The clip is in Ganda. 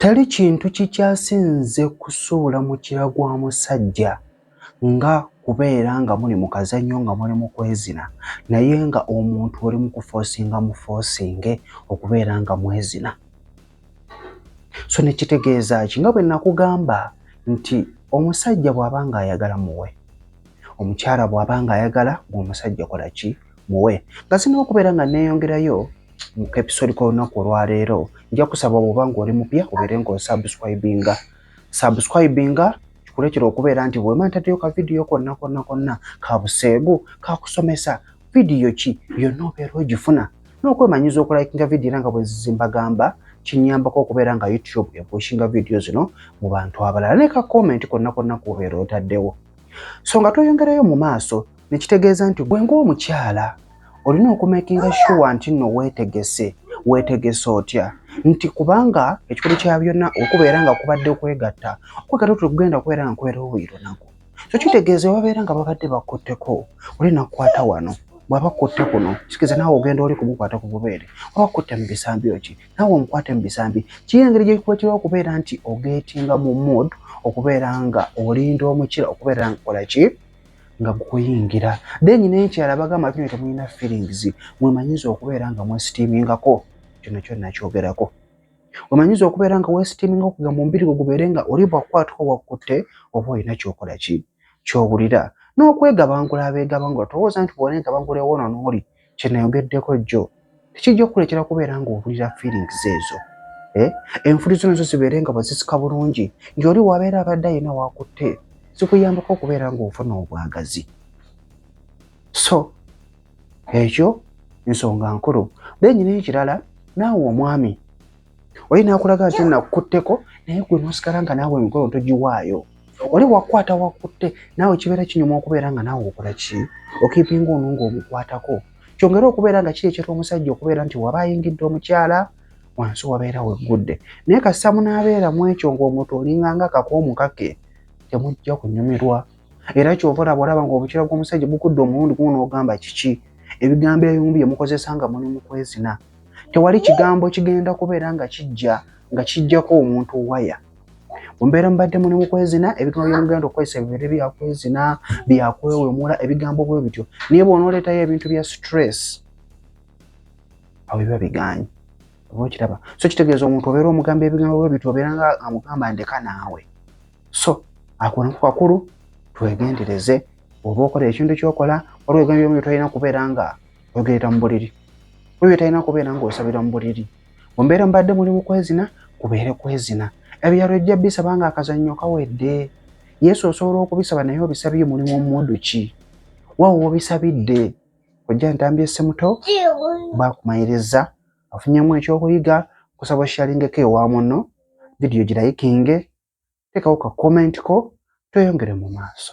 Tali kintu kikyasinze kusuula mukira gwa musajja nga kubeera nga muli mu kazannyo nga muli mu kwezina naye nga omuntu oli mu kufoosinga mufoosinge okubeera nga mwezina. So ne kitegeeza ki nga bwe nakugamba nti omusajja bw'aba ng'ayagala muwe, omukyala bw'aba ng'ayagala gwe omusajja kola ki muwe nga zirina okubeera nga neeyongerayo mu kepisodi k'olunaku olwaleero nja kusaba bwoba ng'oli mupya obeere ng'osubscribinga subscribinga kikuleetera okubeera nti bwema ntaddeyo ka vidiyo konna konna konna ka buseegu kakusomesa vidiyo ki yonna obeera ogifuna n'okwemanyiza okulayikinga vidiyo era nga bwezizimbagamba kinyambako okubeera nga youtube epushinga vidiyo zino mu bantu abalala ne ka komenti konna konna kubeera otaddewo so nga tweyongerayo mu maaso nekitegeeza nti gwe ng'omukyala olina okumakinga shuwa nti nno weetegese weetegese otya nti kubanga ekikulu kya byonna okubeera nga kubadde kwegatta okwegatta otuli kugenda kubeera nga kubeerawo buli lunaku so kitegeeza babeera nga babadde bakutteko oli nakukwata wano bwaba kutte kuno kitegeeza naawe ogenda oli kumukwata ku bubeere oba kutte mu bisambi oki naawe omukwate mu bisambi kiyo engeri gyekukwetera okubeera nti ogeetinga mu mood okubeera nga olinda omukira okubeera nga kola ki nga kukuyingira then n'ekirala bagamba kino temulina feelings mwemanyiza okubeera nga mwesitiimingako kino kyo nakyogerako wemanyiza okubeera nga wesitiiminga okuga mu mbiri gwe gubeere nga oli bwakukwatako wakkutte oba olina kyokola ki kyowulira n'okwegabangula abeegabangula towooza nti bwona egabangula ewono n'oli kye nayogeddeko jjo tekijja okukulekera kubeera ng'owulira feelings ezo eh? enfuli zino zo zibeere nga wazisika bulungi ng'oli wabeera abadde ayina wakutte zikuyambako okubeera ng'ofuna obwagazi so ekyo nsonga nkulu then n'ekirala naawe omwami oli nakulaga nti nakukutteko naye gwe nosigala nga naawe emikolo togiwaayo oli wakwata wakutte naawe kibeera kinyuma okubeera nga naawe okola ki okiipinga ono nga omukwatako kyongere okubeera nga kirekyeta omusajja okubeera nti waba ayingidde omukyala wansi wabeera weggudde naye kasita munaabeera mu ekyo ng'omuntu olinganga akakoomu kake temujja kunyumirwa era kyova olaba olaba nga obukira bw'omusajja bukudde omulundi gumu n'ogamba kiki ebigambo ebimu bye mukozesa nga muli mu kwezina tewali kigambo kigenda kubeera nga kijja nga kijjako omuntu waya mumbeera mubadde muli mu kwezina ebigambo byomugenda okukozesa bibeere byakwezina byakwewemula ebigambo bwe bityo naye bwonooleetayo ebintu bya stress awo biba bigaanyi oba okiraba so kitegeeza omuntu obeera omugamba ebigambo bwe bityo obeera nga amugamba ndeka naawe so ako nako kakulu twegendereze oba okola ekintu kyokola waliwo ebigambo byomu byotalina kubeera nga oyogerera mu buliri waliwo byotalina kubeera nga osabira mu buliri mu mbeera mubadde muli mu kwezina kubeere kwezina ebyalo ejja bisaba nga akazannyo kawedde yesu osobola okubisaba naye obisabye mulimu omudu ki wawo wobisabidde ojja ntambi esemuto bakumayiriza afunyemu ekyokuyiga kusaba oshalingeko ewa muno vidiyo girayikinge teekawo ka komenti ko tweyongere mu maaso